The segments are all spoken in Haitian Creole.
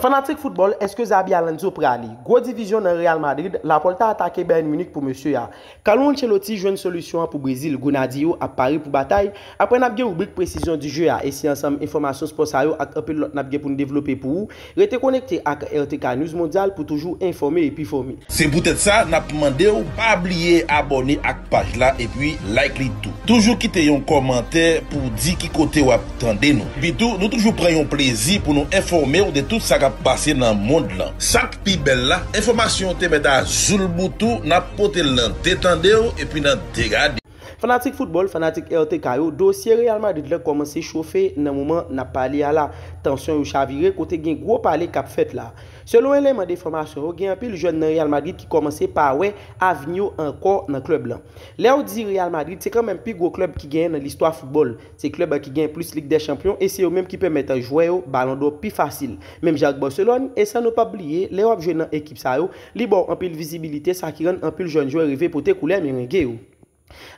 Fanatik foutbòl, èske Xabi Alonso prale? Gwo divizyon nan Real Madrid, Laporta atake Bayern Munich pou mesye a. Carlo Ancelotti jwenn solisyon an pou Brezil, Grenadye yo ap pare pou batay, aprè nap gen ribrik Precision du jeu a e si ansanm enfòmasyon spò sa yo ak anpil lòt nap gen pou n devlope pou ou, rete konekte ak RTK News Mondial pou toujou enfòme epi fòme. Se poutèt sa nap mande w pa bliye abòne ak paj la epi like li tou. Toujou kite yon kòmantè pou w di ki kote wap Tande nou. Epitou, nou toujou pran yon plezi pou nou enfòme w de tout sa k ap pase nan mond lan. Sa k pi bèl la, enfòmasyon yo te mèt a zoulboutou, n ap pote l nan de tande w epi nan de gade w. Fanatik foutbòl, fanatik RTK yo, dosye Real Madrid la kòmanse chofe nan moman n ap pale a la. Tansyon yo chavire kote gen gwo pale k ap fèt la. Selon eleman de enfòmasyon yo, gen anpil jèn nan Real Madrid ki kòmanse pa wè avni yo ankò nan klèb lan. Lè w di Real Madrid, se kanmenm pi gwo klèb ki genyen nan listwa foutbòl. Se klèb ki gen plis ligdèchanpyon e se yo menm ki pèmèt jwè yo balon dò pi fasil. Menm jan ak Barcelòn, e san nou pap bliye, lè wap jwe nan ekip sa yo, li baw anpil vizibilite sa ki rann anpil jèn jwè rive pote koulè merengue yo.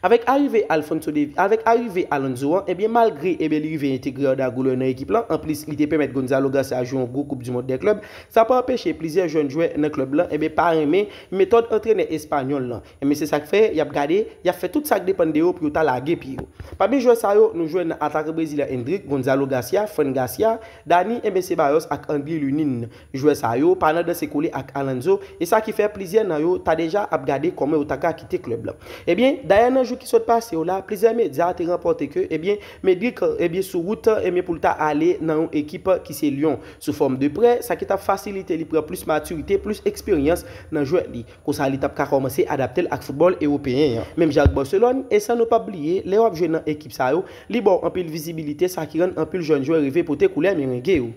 Avèk arive Alphonso Davies, avèk arive Alonso an, ebyen malgre ebyen li rive entegre Arda Güler nan ekip lan, anplis li te pèmèt Gonzalo Garcia jwe yon gwo koup du mond dè klèb, sa pa anpeche plizyè jèn jwè nan klèb lan ebyen pa renmen metòd antrenè espanyòl lan. Enben se sak fè yap gade, yap fè tout sak depann de yo pou yo ta lage pye yo. Pami jwè sa yo, nou jwenn nan atakan brezilyen Endrick, Gonzalo Garcia, Fran Garcia, Dani, enben Ceballos ak Angly Lunin. Jwè sa yo pa nan danse kole ak Alonso, e sa ki fè plizyè nan yo ta deja ap gade kòman yo ta ka kite klèb la. Ebyen, dayè nan jou ki sot pase yo la, plizyè medya te ranpòte ke, ebyen, Medrick, ebyen sou wout, ebyen pou l ta ale nan yon ekip ki se Lyon, sou fòm de prè, sa ki tap fasilite li pran plis matirite, plis eksperyans nan jwèt li. Konsa li t ap ka kòmanse adapte l ak foutbòl ewopeyen an. Menm jan ak Barcelone, e san nou p ap bliye, lè w ap jwe nan ekip sa yo, li ba w anpil vizibilite sa ki rann anpil jèn jwè reve pote koulè Merengue yo.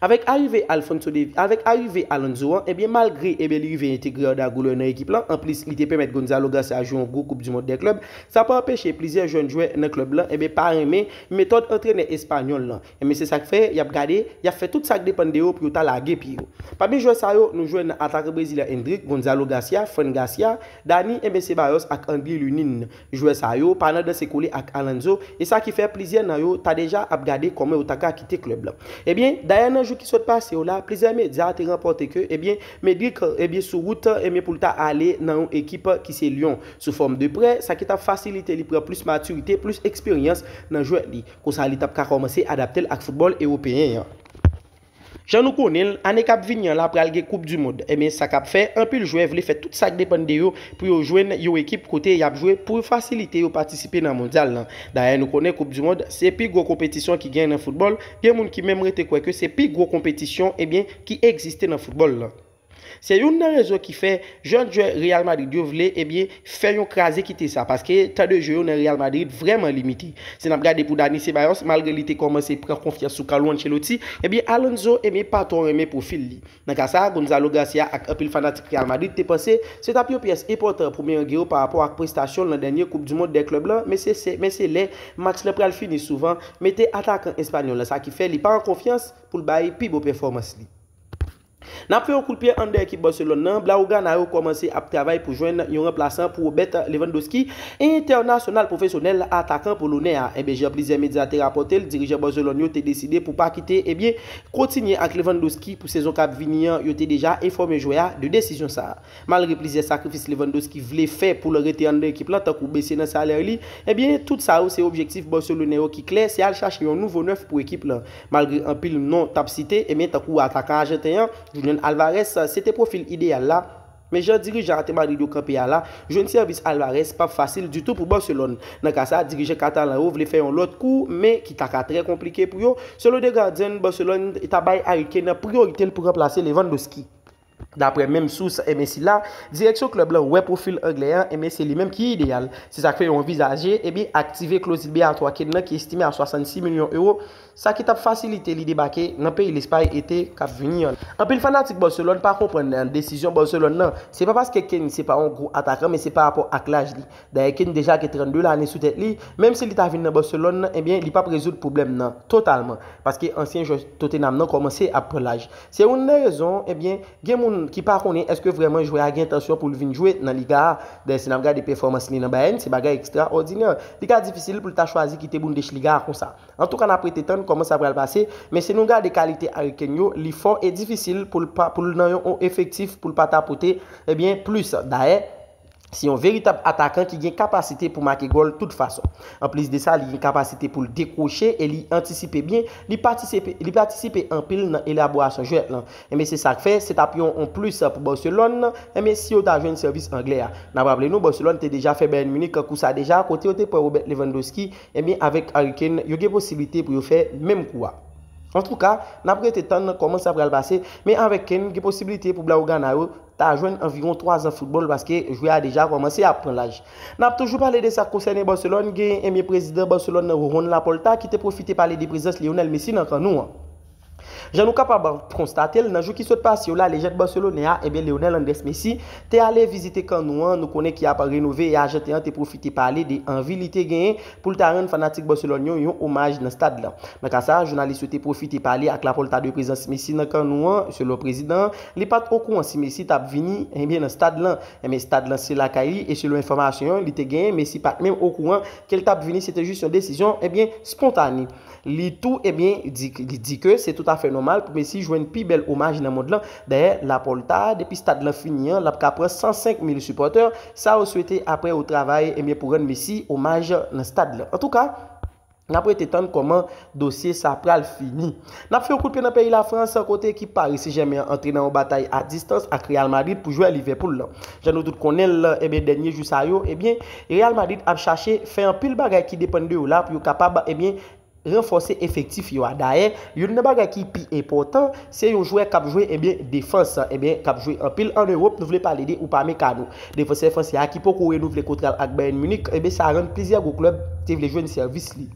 Avèk arive Alphonso Davies, avèk arive Alonso an, ebyen malgre ebyen li rive entegre Arda Güler nan ekip lan, anplis li te pèmèt Gonzalo Garcia jwe yon gwo koup du mond dè klèb, sa pa anpeche plizyè jèn jwè nan klèb lan ebyen pa renmen metòd antrenè espanyòl lan. Enben se sak fè yap gade, yap fè tout sak depann de yo pou yo ta lage pye yo. Pami jwè sa yo, nou jwenn nan atakè brezilyen Endrick, Gonzalo Garcia, Fran Garcia, Dani, Enben Ceballos ak Angli Lunin. Jwè sa yo pa nan danse kole ak Alonso, e sa ki fè plizyè nan yo ta deja ap gade kòman yo taka kite klèb la. Ebyen, dayè nan jou ki sot pase yo la, plizyè medya te ranpòte ke ebyen Medrick ebyen sou wout ebyen pou l ta ale nan yon ekip ki se Lyon, sou fòm de prè, sa ki tap fasilite li pran plis matirite, plis eksperyans nan jwèt li. Konsa li t ap ka kòmanse adapte l ak foutbòl ewopeyen an. Jan nou konnen l, ane k ap vini an la pral gen koup di mond. Ebyen sa k ap fè, anpil jwè vle fè tout sa k depann de yo pou yo jwenn yon ekip kote y ap jwe pou fasilite yo patisipe nan mondyal lan. Dayè nou konnen koup di mond se pi gwo konpetisyon ki gen nan foutbòl, gen moun ki menm rete kwè ke se pi gwo konpetisyon ebyen ki egziste nan foutbòl lan. Se youn nan rezon ki fè jèn jwè Real Madrid yo vle ebyen fè yon kraze kite sa paske tan de jeu yo nan Real Madrid vrèman limite. Si nap gade pou Dani Ceballos malgre li te kòmanse pran konfyans sou Carlo Ancelotti ebyen Alonso ebyen pa twò renmen pwofil li. Nan ka sa Gonzalo Garcia ak anpil fanatik Real Madrid te panse se tap yon pyès enpòtan pou Merengue yo parapò ak prestasyon l nan dènye koup du mond dè klèb lan men se se men se lè match lan pral fini souvan mete atakan espanyòl lan sa ki fè li pa an konfyans pou l bay pi bon pèfòmans li. Nap fè yon kout pye anndan ekip Barcelone nan, Blaugrana yo kòmanse ap travay pou jwenn yon ranplasan pou Robert Lewandowski, entènasyonal pwofesyonèl atakan polonè a. Enben jan plizyè medya te rapòtel, dirijan Barcelone yo te deside pou pa kite enben kontinye ak Lewandowski pou sezon kap vini an, yo te deja enfòme jwè a de desizyon sa. Malgre plizyè sakrifis Lewandowski vle fè poul rete anndan ekip lan tankou bese nan salè li, enben tout sa yo se objektif barcelonais yo ki klè se al chache yon nouvo 9 pou ekip lan. Malgre anpil non tap site, ebyen tankou atakan ajanten an, Julian Alvarez, se te pwofil ideyal la, men jan dirijan ate Madrid yo kanpe a la, jwenn sèvis Alvarez pap fasil ditou pou Barcelone. Nan ka sa, dirijan katalan yo vle fè yon lòt kou, men ki taka trè konplike pou yo, selon The Guardian, Barcelone ta bay Harry Kane priyorite l pou ranplase Lewandowski. Daprè menm sous enben sila, direksyon klèb lan wè pwofil anglè an enben se li menm ki ideyal. Se sa k fè yo anvizaje enben aktive kloz libeyatwa Kane lan ki estime a 66 milyon ewo, sa ki t ap fasilite li debake nan peyi Lespay ete k ap vini an. Anpil fanatik Barcelone pa konprann desizyon Barcelone lan. Se pa paske Kane se pa yon gwo atakan men se parapò ak laj li. Dayè Kane deja gen 32 lane sou tèt li, menm si li ta vin nan Barcelone nan ebyen li pap rezoud pwoblèm nan totalman, paske ansyen jwè Tottenham nan kòmanse ap pran laj. Se oun nan rezon ebyen gen moun ki pa konnen èske vrèman jwè a gen entansyon pou l vin jwe nan Liga a. Dayè si n ap gade pèfòmans li nan Bayern se bagay ekstra òdinè. Li ka difisil pou l ta chwazi kite Bundesliga a konsa. Antouka n ap rete tann kòman sa pral pase, men si nou gade kalite Harry Kane yo li fò e difisil pou l pa pou l nan yon efektif pou l pa ta pote ebyen plis. Dayè. Se yon veritab atakan ki gen kapasite pou make gòl tout fason. Anplis de sa, li gen kapasite pou l dekwoche e li antisipe byen, li patisipe anpil nan elaborasyon jwèt lan. Enben se sa k fè, se t ap yon onplis pou Barcelone, enben si yo ta jwenn sèvis anglè a. N ap raple nou, Barcelone te deja fè Bayern Munich kou sa deja, kote yo te pran Robert Lewandowski, enben avèk Harry Kane, yo gen posiblite pou yo fè menm kou a. Antouka, n ap rete tann kòman sa pral pase, men avèk Kane, gen posiblite pou Blaugrana yo, ta jwenn anviwon 3 zan foutbòl paske jwè a deja kòmanse ap pran laj. N ap toujou pale de sa k konsène Barcelone, gen enbyen prezidan Barcelone nan Juan Laporta ki te pwofite pale de prezans Lionel Messi nan kan nou an. Jan nou kapab konstate l, nan jou ki sot pase yo la lejand Barcelone a, enbyen Lionel Andrés Messi, te ale vizite kan nou an, nou konnen ki ap renove e ajanten an te pwofite pale de anvi li te genyen pou l ta rann fanatik Barcelone yo yon omaj nan stad lan. Nan ka sa a, jounalis yo te pwofite pale ak Laporta de prezans Messi nan kan nou an, selon prezidan an, li pa t okouran si Messi t ap vini, enben nan stad lan. Enben stad lan se lakay li e selon enfòmasyon li te genyen Messi pa t menm okouran ke l t ap vini, se te jis yon desizyon, enben, spontane. Li tou ebyen di ke se tout afè nòmal pou Messi jwenn pi bèl omaj nan mond lan. Dayè, Laporta, depi stad lan fini an, l ap ka pran 105 mil sipòtè. Sa yo swete apre yo travay ebyen pou rann Messi omaj nan stad lan. Antouka, n ap rete tann kòman dosye sa pral fini. N ap fè yon kout pye nan peyi Lafrans kote ekip Paris Saint-Germain an antre nan yon batay a distans ak Real Madrid pou jwè Liverpool lan. Jan nou tout konnen l, eben dènye jou sa yo, eben Real Madrid ap chache fè anpil bagay ki depann de yo la pou yo kapab, eben ranfòse efektif yo a. Dayè, youn nan bagay ki pi enpòtan, se yon jwè k ap jwe, eben defans, eben k ap jwe anpil an Ewop, nou vle pale de Upamecano. Defansè fransè a ki poko renouvle kontra l ak Bayern Munich, eben sa rann plizyè gwo klèb te vle jwenn sèvis li.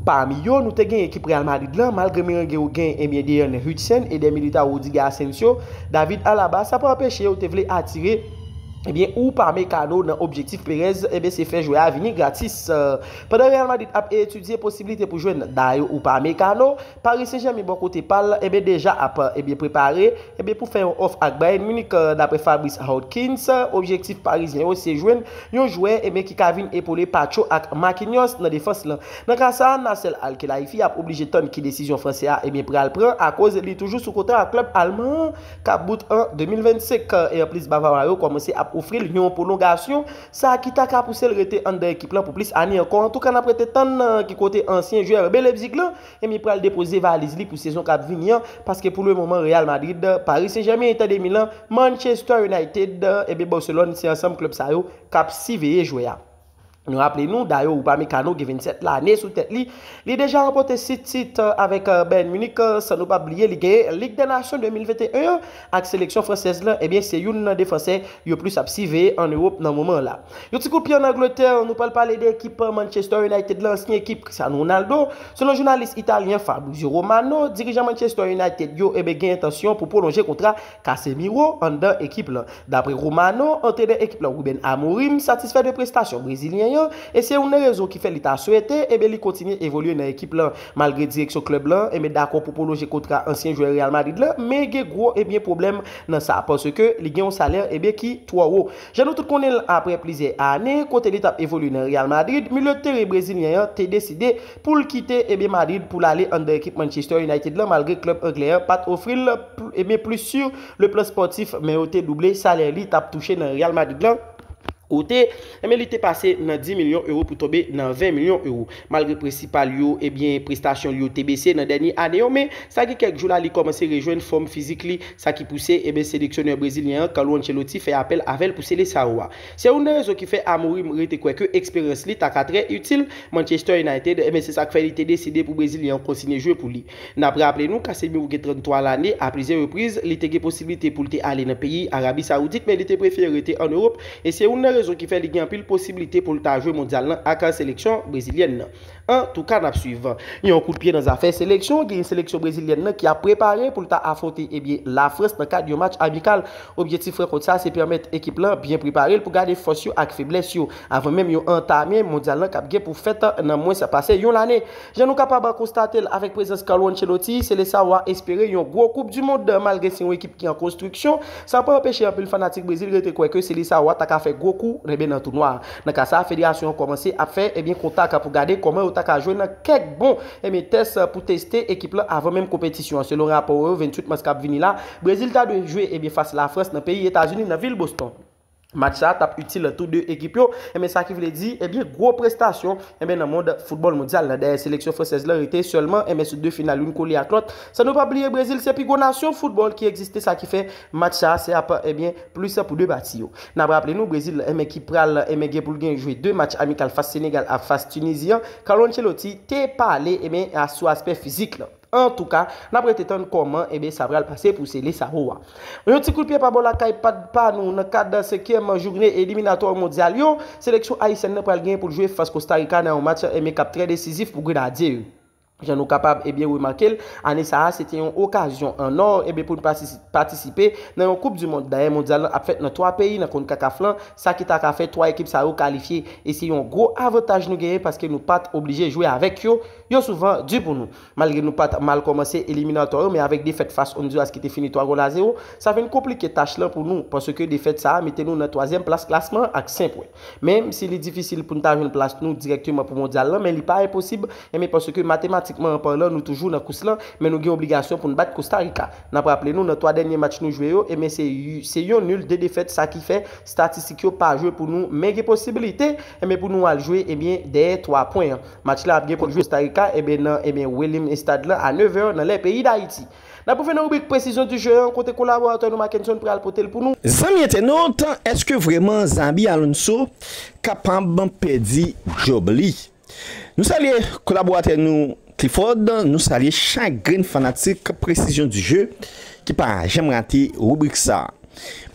Pami yo, nou te gen ekip Real Madrid lan, malgre Merengue yo gen ebyen Dean Huijsen, Eder Militao, Rudiger Asensio, David Alaba, sa pa anpeche yo te vle atire ebyen Upamecano nan objektif Perez ebyen se fè jwè a vini gratis. Pandan Real Madrid ap etidye posiblite pou jwenn Dayo Upamecano, Paris Saint-Germain bò kote pa l, enben deja ap, enben prepare, enben pou fè yon òf ak Bayern Munich, daprè Fabrice Hawkins, objektif Parizyen yo se jwenn yon jwè, enben ki ka vin epole Pacho ak Marquinhos nan defans lan. Nan ka sa, Nasser Al-Khelaifi ap oblije tann ki desizyon Fransè a, enben pral pran akoz li toujou sou kontra ak klèb Alman an kap bout an 2025, e anplis Bavawa yo kòmanse ap ofri l yon pwolongasyon. sa ki ta ka pouse l rete anndan ekip lan pou plis ane ankò, antouka n ap rete tann nan ki kote ansyen jwè RB Leipzig lan ebyen pral depoze valiz li pou sezon k ap vini an, paske pou le moman Real Madrid, Paris Saint Germain, Inter de Milan, Manchester United ebyen Barcelone se ansanm klèb sa yo k ap siveye jwè a. Nou raple nou, Dayot Upamecano gen 27 lane sou tèt li, li deja ranpòte 6 tit avèk Bayern Munich san nou pa bliye li genyen Lig dè Nasyon 2021 an Ak seleksyon fransèz la, ebyen se youn nan defansè yo plis ap siveye an Ewop nan moman an la. Yon ti kout pye an Angletè, nou pral pale de ekip Manchester United lan, ansyen ekip Cristiano Ronaldo. Selon jounalis Italyen Fabrizio Romano, dirijan Manchester United yo ebyen gen entansyon pou pwolonje kontra Casemiro anndan ekip lan. Dapre Romano, antrenè ekip lan Ruben Amorim satisfè de prestasyon Brezilyen an e se youn nan rezon ki fè li ta swete ebyen li kontinye evolye nan ekip lan. Malgre direksyon klèb lan enben dakò pou pwolonje kontra ansyen jwè Real Madrid lan, men gen gwo enben pwoblèm nan sa paske li gen yon salè enben ki twò wo. Jan nou tout konnen l aprè plizyè ane kote li t ap evolye nan Real Madrid, milye de teren brezilyen an te deside pou l kite enben Madrid pou l ale anndan ekip Manchester United lan malgre klèb anglè an pa t ofri l enben plis sur le plan sportif men yo te double salè li t ap touche nan Real Madrid lan. kote, enben li te pase nan 10 milyon ewo pou tonbe nan 20 milyon ewo. Malgre prensipal yo, ebyen prestasyon li yo te bese nan dènye ane yo, men sa gen kèk jou la li kòmanse rejwenn fòm fizik li, sa ki pouse, enben seleksyonè brezilyen an, Carlo Ancelotti fè apèl avèl pou Seleçao a. Se youn nan rezon ki fè Amorim rete kwè ke eksperyans li ta ka trè itil Manchester United, enben se sak fè li te deside pou brezilyen an kontinye jwe pou li. N ap raple nou, Casemiro gen 33 lane, a plizyè repriz, li te gen posiblite pou l te ale nan peyi Arabi Sawoudit men li te prefere rete an Ewop e se youn nan rezon ki fè li gen anpil posiblite pou l ta jwe Mondyal lan ak seleksyon brezilyèn nan. An tou ka n ap swiv. Yon kout pye nan zafè seleksyon, genyen seleksyon brezilyèn nan ki ap prepare pou l ta afwonte ebyen Lafrans nan kad yon match amikal. Objektif rankont sa se pèmèt ekip lan byen prepare l pou gade fòs yo ak feblès yo avan menm yo antame Mondyal lan k ap gen pou fèt nan mwens pase yon lane. Jan nou kapab konstate l avèk prezans Carlo Ancelotti, Seleçao a espere yon gwo koup du mond malgre se yon ekip ki an konstriksyon, sa pa anpeche anpil fanatik Brezil rete kwè ke Seleçao a ta ka fè gwo kou enben nan tounwa a. Nan ka sa a federasyon an kòmanse ap fè enben kontak pou gade kòman yo ta ka jwenn kèk bon enben tès pou teste ekip lan avan menm konpetisyon an. Selon rapò yo 28 mas kap vini la Brezil ta dwe jwe enben fas Lafrans nan peyi Etazini nan vil Boston. Match sa tap itil tou 2 ekip yo, enben sa ki vle di, enben gwo prestasyon, enben nan mond foutbòl mondyal la. Dayè seleksyon fransèz la rete sèlman, enben sou 2 final youn kole ak lòt, san nou pa bliye Brezil se pi gwo nasyon foutbòl ki egziste sa ki fè match sa se ap enben plis pou 2 pati yo. Nap raple nou Brezil enben ki pral enben gen pou l gen jwe 2 match amikal fas Senegal ak fas Tunizi an, Carlo Ancelotti te pale enben sou aspè fizik la. Antouka, n ap rete tann kòman sa pral pase pou Seleçao a. Yon ti kout pye pa bò lakay pa nou nan kad senkyèm joune eliminatwa Mondyal yo, seleksyon ayisyèn nan pral gen pou l jwe fas Kostarika nan yon match ki ap trè desizif pou Grenadye yo. Jan nou kapab remake l, ane sa a se te yon okazyon an ò pou n patisipe nan yon koup di mond. Dayè Mondyal lan ap fèt nan 3 peyi nan Concacaf lan, sa ki ta ka fè 3 ekip sa yo kalifye e se yon gwo avantaj nou genyen paske nou pa t oblije jwe avèk yo Yo souvan di pou nou. Malgre nou pat mal kòmanse eliminatò yo men avèk defèt fas Honduras ki te fini 3 gòl a 0, sa vin konplike tach lan pou nou paske defèt sa a mete nou nan twazyèm plas klasman an ak 5 pwen. Menm si li difisil pou n ta jwenn plas nou dirèkteman pou Mondyal lan men li pa enposib enben paske matematikman an palan nou toujou nan kous lan men nou gen obligasyon pou n bat Kosta Rika. N ap raple nou nan 3 dènye match nou jwe yo enben se yon nul 2 defèt sa ki fè statistik yo pa jwe pou nou men gen posibilite enben pou nou al jwe enben dèyè 3 pwen an. Match la ap gen kont Costa Rica eben nan eben Wellim Estad lan a 9 è nan lè peyi Dayiti. N ap rive nan ribrik Presizyon du jeu an kote kolaboratè nou Mackenson pral pote l pou nou. Zanmi entènot, èske vrèman Xabi Alonso kapab pèdi djòb li? Nou salye kolaboratè nou Clifford, nou salye chak grenn fanatik Presizyon du jeu ki pa janm rate ribrik sa.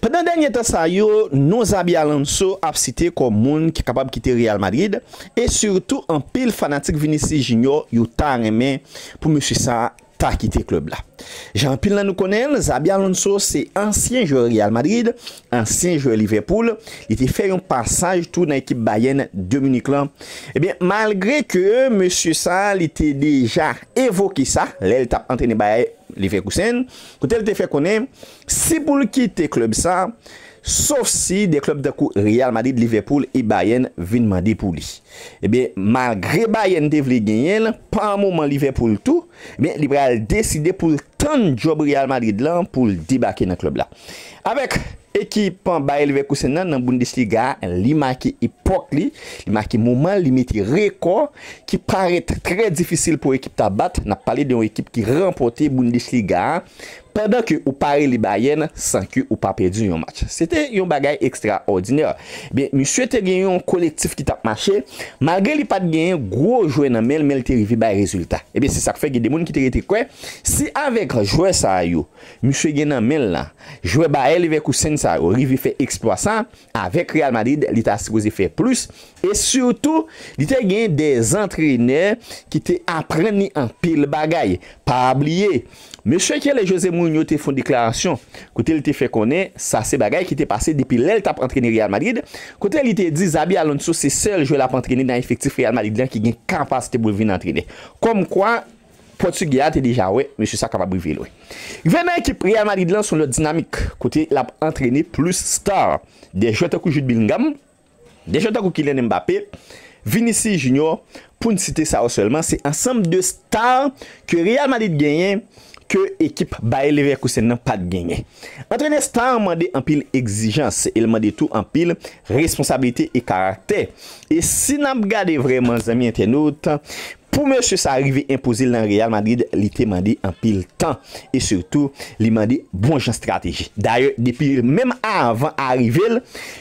Pandan dènye tan sa yo, non Xabi Alonso ap site kòm moun ki kapab kite Real Madrid e sitou anpil fanatik Vinicius Junior yo ta renmen pou mesye sa ta kite klèb la. Jan anpil nan nou konnen l, Xabi Alonso se ansyen jwè Real Madrid, ansyen jwè Liverpool, li te fè yon pasaj tou nan ekip Bayern de Munich lan. Ebyen malgre ke mesye sa li te deja evoke sa lè l tap antrene Bayer Leverkusen kote l te fè konnen Si pou l kite klèb sa, sof si de klèb tankou Real Madrid, Liverpool e Bayern vin mande pou li. Ebyen, malgre Bayern te vle genyen l, pa moman Liverpool tou, ebyen li pral deside pou l tann djòb Real Madrid la pou l debake nan klèb la. Avèk ekip Bayer Leverkusen nan nan Bundesliga a, li make epòk li, li make moman l, li mete rekò ki parèt trè difisil pou ekip ta bat, n ap pale de yon ekip ki ranpòte Bundesliga a Pandan ke ou pa rele Bayern san ke ou pa pèdi yon match. Se te yon bagay ekstraòdinè. Ebyen, misye te gen yon kolektif ki t ap mache, malgre li pa t genyen gwo jwè nan men l, men l te rive bay rezilta. Ebyen, se sa k fè gen de moun ki te rete kwè, si avèk jwè sa a yo misye gen nan men l lan, jwè Bayer Leverkusen sa yo rive fè eksplwa sa a, Avèk Real Madrid li ta sipoze fè plis e sitou li te gen de antrenè ki te aprann li anpil bagay. Pa bliye, mesye Chele Jose Mourinho te fon deklarasyon kote li te fè konnen sa se bagay ki te pase depi lè li t ap antrene Real Madrid kote li te di Xabi Alonso se sèl jwè l ap antrene nan efektif Real Madrid lan ki gen kapasite pou l vin antrenè. Kòmkwa. Pòtigè a te deja wè mesye sa kapab rive lwen. Rive nan ekip Real Madrid lan se yon lòt dinamik kote lap antrene plis star. Dè jwè tankou Jude Bellingham, dè jwè tankou Kylian Mbappé, Vinicius Junior pou n site sa yo sèlman se ansanm de star ke Real Madrid genyen ke ekip Bayer Leverkusen nan pat genyen. Antrene star mande anpil egzijans e l mande tou anpil responsabilite e karaktè. E si nap gade vrèman zanmi entènot, Pou mesye sa rive enpoze l nan Real Madrid li te mande anpil tan e sitou li mande bon jan strateji. Dayè depi menm avan arive l,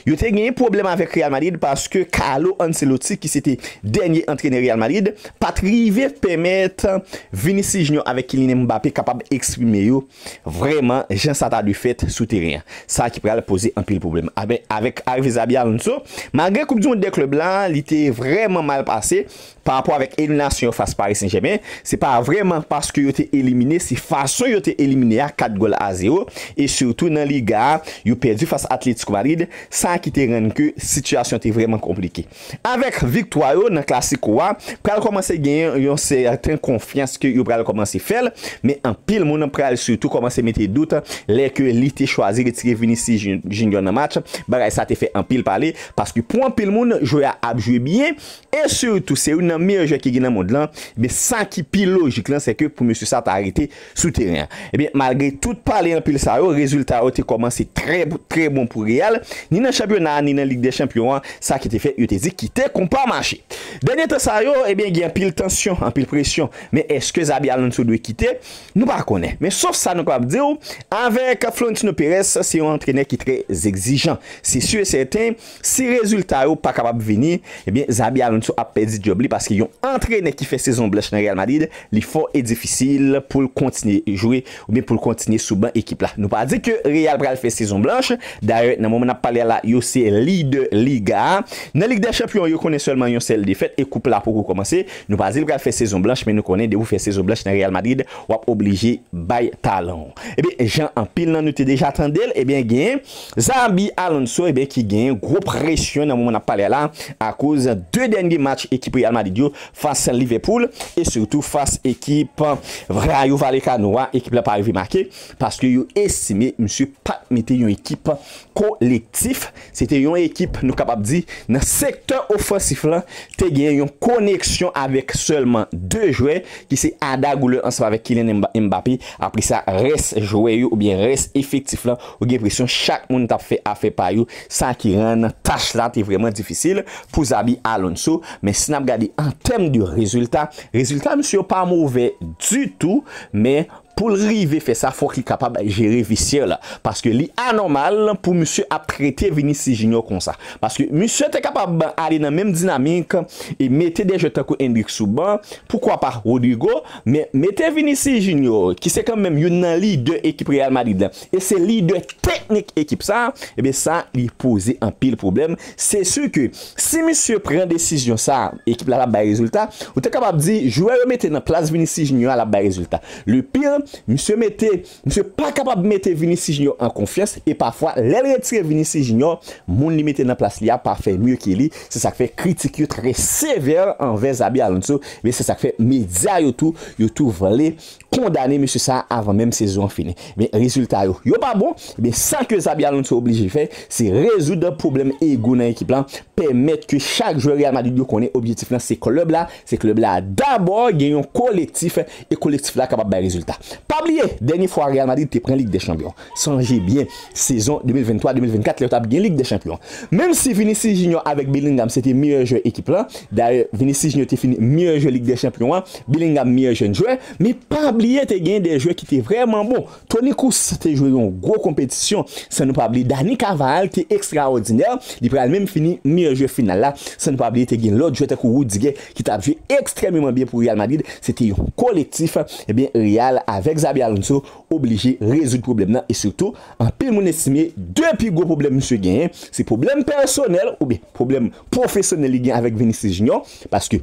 yo te genyen pwoblèm avèk Real Madrid paske Carlo Ancelotti ki se te dènye antrenè Real Madrid pa t rive pèmèt Vinicius Junior avèk Kylian Mbappé kapab eksprime yo vrèman jan sa ta dwe fèt sou teren an. Sa ki pral poze anpil pwoblèm avèk arive Xabi Alonso. Malgre koup du mond dè klèb la li te vrèman mal pase, Pa rapò avèk eliminasyon yo fas Paris Saint Germain, se pa vrèman paske yo te elimine, se fason yo te elimine a 4 gòl a 0 e sitou nan Liga a, yo pèdi fas Atlético Madrid, sa ki te rann ke sitiyasyon te vrèman konplike. Avèk viktwa yo nan Clasico a, pral kòmanse genyen yon sèten konfyans ke yo pral kòmanse fè l, men anpil moun pral sitou kòmanse mete dout lè ke li te chwazi retire Vinicius Junior nan match, bagay sa te fè anpil pale, paske pou anpil moun jwè a ap jwe byen, E sitou se youn nan meyè jwè ki gen nan mond lan, ebyen sa ki pi lojik lan se ke pou mesye sa ta rete sou teren an. Ebyen malgre tout pale anpil sa yo, rezilta yo te kòmanse trè trè bon pou Real, ni nan chanpyona a ni nan Lig dè Chanpyon an, sa ki te fè yo te di kite konpa mache. Dènye tan sa yo, ebyen gen anpil tansyon, anpil presyon, men èske Xabi Alonso dwe kite? Nou pa konnen, men sof sa nou kapab di w, avèk Florentino Perez se yon antrenè ki trè egzijan. Se si e sèten, Si rezilta yo pa kapab vini, ebyen Xabi Alonso ap pèdi djòb li paske yon antrenè ki fè sezon blanch nan Real Madrid, li fò e difisil poul kontinye jwe oubyen poul kontinye sou ban ekip la. Nou pa di ke Real pral fè sezon blanch, dayè nan moman nap pale a la yo se lidè liga a. Nan lig dè chanpyon yo konnen sèlman yon sèl defèt e koup la poko kòmanse. Nou pa di l pral fè sezon blanch men nou konnen depi w fè sezon blanch nan Real Madrid wap oblije bay talan w. Ebyen jan anpil nan nou te deja tande l, ebyen gen. Xabi Alonso ebyen ki genyen gwo presyon nan moman nap pale a la akoz 2 dènye match ekip Real Madrid yo fas Liverpool e sitou fas ekip Rayo Vallecano a ekip la pa rive make paske yo estime misye pat mete yon ekip kolektif se te yon ekip nou kapab di nan sektè ofansif lan te genyen yon koneksyon avèk sèlman 2 jwè ki se Arda Güler ansanm avèk Kylian Mbappé apresa rès jwè yo oubyen rès efektif lan Ou gen enpresyon chak moun t ap fè afè pa yo, sa ki rann tach la te vrèman difisil pou Xabi Alonso. Men si n ap gade an tèm de rezilta, rezilta misye yo pa move ditou. Men pou l rive fè sa, fòk li kapab jere vestyè la. Paske li anòmal pou misye ap trete Vinicius Junior konsa. Paske misye te kapab ale nan menm dinamik e mete de jwè tankou Endrick sou ban, poukwa pa Rodrygo. Men mete Vinicius Junior ki se kanmenm youn nan lidè ekip Real Madrid la e se lidè teknik ekip sa, ebyen sa li poze anpil pwoblèm, se su ke si misye pran desizyon sa, ekip la pa bay rezilta, ou te kapab di jwè yo mete nan plas Vinicius Junior a l ap bay rezilta, le pire misye mete misye pa kapab mete Vinicius Junior an konfyans e pafwa lè l retire Vinicius Junior moun li mete nan plas li a pa fè mye ke li, se sa k fè kritik yo trè sevè anvè Xabi Alonso, ebyen se sa k fè medya yo tou yo tou vle. kondane mesye sa avan menm sezon an fini ebyen rezilta yo yo pa bon ebyen sa ke Xabi Alonso oblije fè se rezoud pwoblèm ego nan ekip lan pèmèt ke chak jwè Real Madrid yo konnen objektif lan se klèb la se klèb la dabò gen yon kolektif e kolektif la kapab bay rezilta pa bliye dènye fwa Real Madrid te pran lig dè chanpyon Sonje byen, sezon 2023-2024 la yo t ap gen Lig dè Chanpyon. Menm si Vinicius Junior avèk Bellingham se te meyè jwè ekip la, dayè Vinicius Junior te fini meyè jwè Lig dè Chanpyon an, Bellingham meyè jèn jwè, men pa bliye te gen dè jwè ki te vrèman bon. Toni Kroos te jwe yon gwo konpetisyon san nou pa bliye Dani Carvajal te ekstraòdinè, li pral menm fini meyè jwè final la, san nou pa bliye te gen lòt jwè tankou Rudiger ki t ap jwe ekstrèmeman byen pou Real Madrid, se te yon kolektif, ebyen Real avèk Xabi Alonso. oblije rezoud pwoblèm nan e sitou anpil moun estime 2 pi gwo pwoblèm misye genyen se pwoblèm pèsonèl oubyen pwoblèm pwofesyonèl li gen avèk Vinicius Junior paske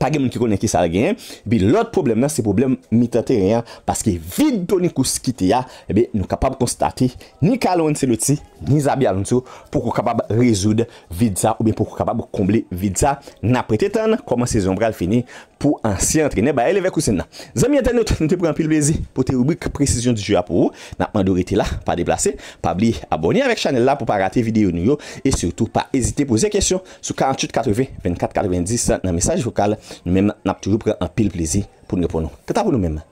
pa gen moun ki konnen kisa l genyen epi lòt pwoblèm nan se pwoblèm mitan teren an paske vid Toni Kroos kite a ebyen nou kapab konstate ni Carlo Ancelotti ni Xabi Alonso poko kapab rezoud vid sa oubyen poko kapab konble vid sa n ap rete tann kòman sezon an pral fini Pou ansyen antrenè Bayer Leverkusen nan. Zanmi entènot, nou te pran anpil plezi pote ribrik Precision du jeu a pou ou. Nap mande w rete la, pa deplase. Pa bliye abòne avèk chanèl la pou pa rate videyo nou yo e sitou pa ezite poze kesyon sou 48 80 24 90 nan mesaj vokal. Nou menm nap toujou pran anpil plezi pou n reponn ou. Kanta pou nou menm.